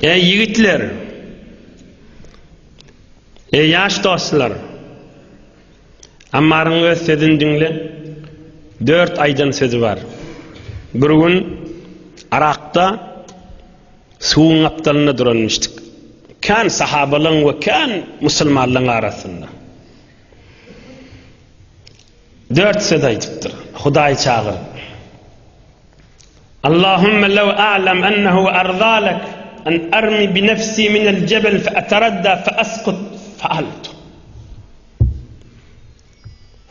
Eý ýigitler! Eý ýaş dostlar! Ammaryň öz sözüni diňle. Dört aýdan sözi bar. Bir gün Arakda suwuň gapdalynda duranmyşdyk. Kän sahabalaň we kän musulmanlaň arasynda. Dört söz aýdypdyr. Hudaýy çagyryp. Allahümme lew a'lem ennehu erzalek en ermi bi nefsi minel cebel fe eteradda fe eskut fe altu.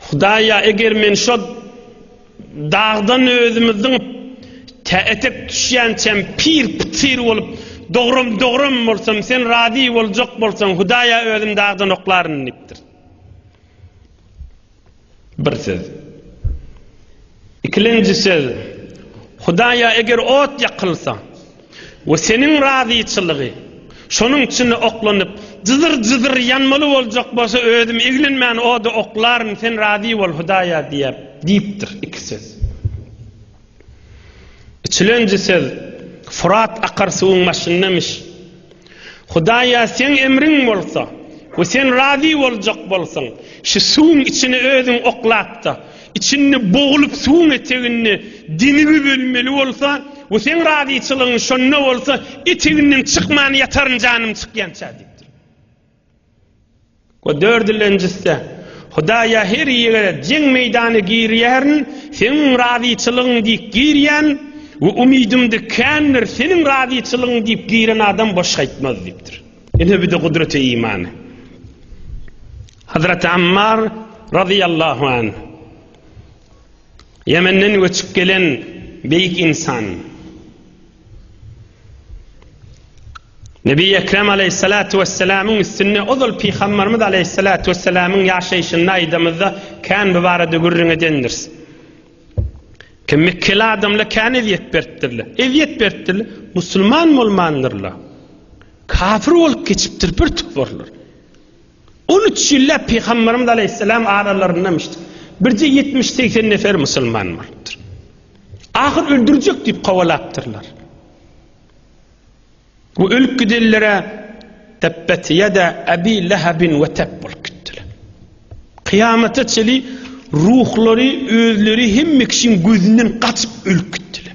Hudaýa eger men şo dagdan özümi zyňyp tä etek düşýänçäm pir pytyr bolup dogrum dogrum bolsam sen razy boljak bolsaň Hudaýa özüm dagdan oklaryn diýipdir. Bir söz. Ikilenji söz. Hudaýa eger ot ýakylsa we seniň razyçylygy şonuň içinde oklanyp, jyzyr-jyzyr ýanmaly boljak bolsa, özüm eglenmän oda oklaryn, sen razy bol, Hudaýa diýer, diýipdir. Iki söz. Içilenji söz, Furat akar suwuň başyndamiş. Hudaýa seň emriň bolsa we sen razy boljak bolsaň, şu suwuň içine özüň oklap-da, içinde boglup suwuň eteginde dinibi bölmeli bolsa we seň razyçylygyň şonda bolsa, eteginden çykman ýataryn janym çykýança diýipdir. We dördülenjisi-de, Hudaýa her ýere jeň meýdany girýärin, Seniň razyçylygyň diýip girýän we umydymdy kändir, Seniň razyçylygyň diýip giren adam boş gaýtmaz diýipdir. Ine bu-da gudreti imany. Hazreti Ammar razyýallahu anh, Ýemenden göçüp gelen beýik ynsan. Nebi Ekrem aleyhissalatu vesselamyň üstünde ozal Pygambarymyz aleyhissalatu vesselamyň ýaşaýşynda aýdamyzda kän bu barada gürrüň edendiris. Kim mekkel adamla kän ezýet beripdirler. Ezýet beripdirler. Musulman bolmandyrlar. Kafir bolup geçipdir bir tuporlar. On üç ýylläp Pygamberimiz aleýhissalam aralarynda müştik, birje ýetmiş-segsen nefer musulman bolupdyr. Ahyr öldürjek diýip kowalapdyrlar. Bu ölüp gidenlere Tebbet ýada Abi Lehabin we Teb bolup gitdiler. Kyýamata çeli ruhlary özleri hemme kişiň gözünden gaçyp ölüp gitdiler.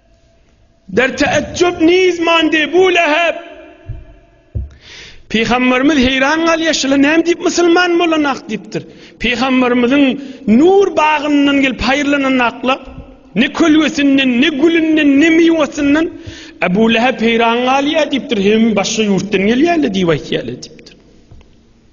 Der teejjüp niz mandi bu leheb. Pygamberimiz heýran galýar, şular näme diýip musulman bolan ak diýipdir. Pygamberimiziň nur bagyndan gelip haýyrlanan aklar, ne kölgesinden, ne gülünden, ne miwesinden Ebu Leheb heýran galýar diýipdir, hem başga ýurtdan gelýärler diýip aýtýarlar diýipdir.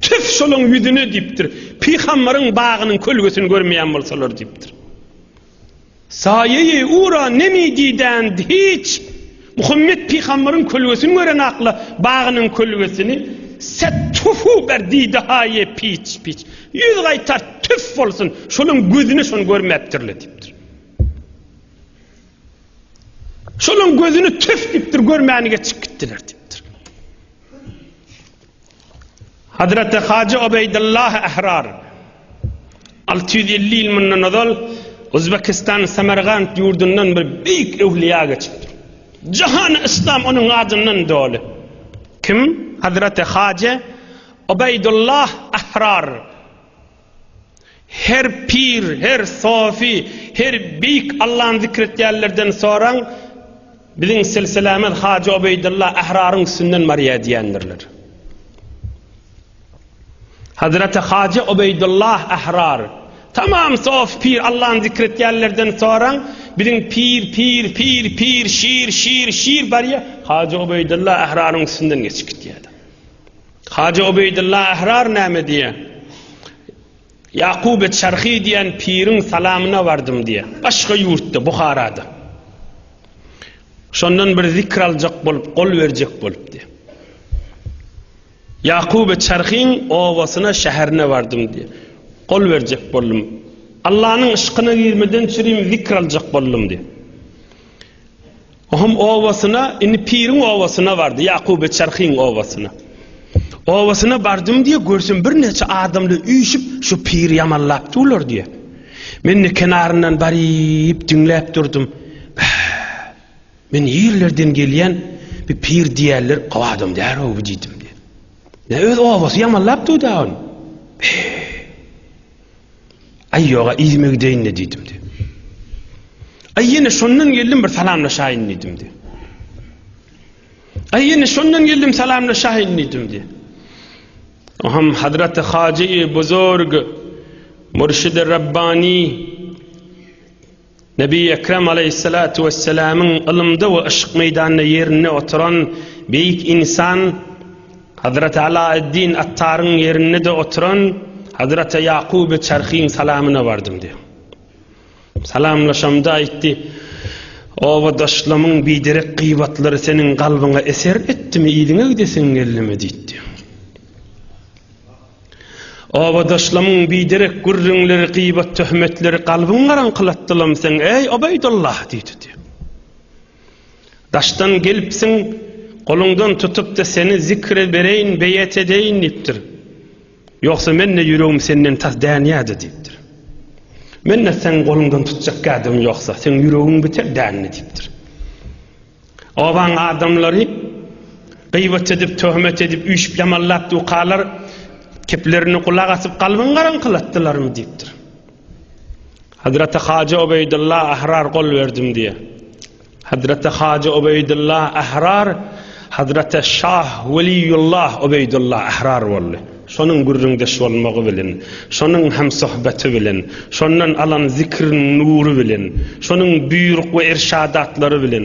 Tüf şolaň ýüzüne diýipdir. Pygambaryň bagynyň kölgesini görmeýän bolsalar diýipdir. Saýeýi ura nemi diýdän hiç Muhammet pygambaryň kölgesini gören akla bagynyň kölgesini set tufu ber diýdi haýe piç piç. Ýüz gaýtar tüf bolsun şolaň gözüne şony görmäpdirle diýipdir. Şolaň gözüni tüf diýipdir görmäni geçip gitdiler diýipdir. Hazreti Hajy Obeýdullah Ahrar 650 ýyl mundan ozal Özbekistan Samargant ýurdundan bir beýik öwliýa geçipdir. Jahan İslam onuň adyndan doly. Kim? Hazreti Hajy Obeýdullah Ahrar. Her pir, her sofi, her beýik Allany zikr etýänlerden soraň, biziň silsilämiz Hajy Obeýdylla Ähraryň üstünden barýar diýendirler. Hazreti Hajy Obeýdylla Ährar, tamam sofi pir Allany zikr etýänlerden soraň, biziň pir, pir, pir, pir, şir, şir, şir barýar, Hajy Obeýdylla Ähraryň üstünden geçip gitýär. Hajy Obeýdylla Ahrar näme diýýär? Ýakuby Çarhy diýen piriň salamyna bardym diýýär. Başga ýurtda, Buharada. Şondan bir zikr aljak bolup, gol berjek bolup diýýär. Ýakuby Çarhyň obasyna, şäherine bardym diýýär. Gol berjek boldum. Allanyň yşkyna girmeden çürim zikr aljak boldum diýýär. Ohum obasyna, indi piriň obasyna bardy, Ýakuby Çarhyň obasyna. Obasyna bardym diýýär, görsem birnäçe adamlar üýşüp, şu piri ýamanlap durlar diýýär. Men-de kenaryndan baryp diňläp durdum. Men nirlerden gelýän, bir pir diýýärler, gowy adam däl-ow bu diýdim. Nä öz obasy ýamanlap durdy-a ony. Aý ýog-a, yzyma gideýin-le diýdim-de. Aý ýene şondan geldim bir salamlaşaýyn diýdim-de. Aý ýene şondan geldim salamlaşaýyn diýdim-de. Oham Hazreti Hajy Buzurg Murşidi Rabbani Nebi Ekrem aleýhissalatu wessalamyň ylymda we yşk meýdanda ýerinde oturan beýik ynsan Hazraty Alaeddin Attaryň ýerinde-de oturan Hazraty Ýakuby Çarhyň salamyna bardym diýýär. Salamlaşamda aýtdy, Obadaşlamyň biderek gybatlary seniň kalbyňa eser etdimi, yzyňa gidesiň geldimi? diýdi. Obadaşlamyň biderek gürrüňleri, gybat-töhmetleri kalbyňy garaňkylatdylam seň, eý, Obeýdulla! diýdidi. Daşdan gelipsiň, goluňdan tutup-da seni zikre bereýin, beýet edeýin diýipdir. Ýogsa men-de ýüregim senden tas dänýärdi diýipdir. Men-de seň goluňdan tutjak gädim ýogsa, seň ýüregiň biter dändi diýipdir. Obaň adamlary gyýbat edip, töhmet edip, üýşüp-ýamallap dukalar keplerini gulak asyp, galbyny garaňkylatdylarmy? diýipdir. Hazreti Hajy Obeýdylla Ahrar gol berdim diýýär. Hazreti Hajy Obeýdylla Ahrar Hazreti Şah Weliýullah Obeýdylla Ahrar boldy. Şonuň gürrüňdeş bolmagy bilen, şonuň hem söhbeti bilen, şondan alan zikriň nury bilen, şonuň buýruk we irşadatlary bilen,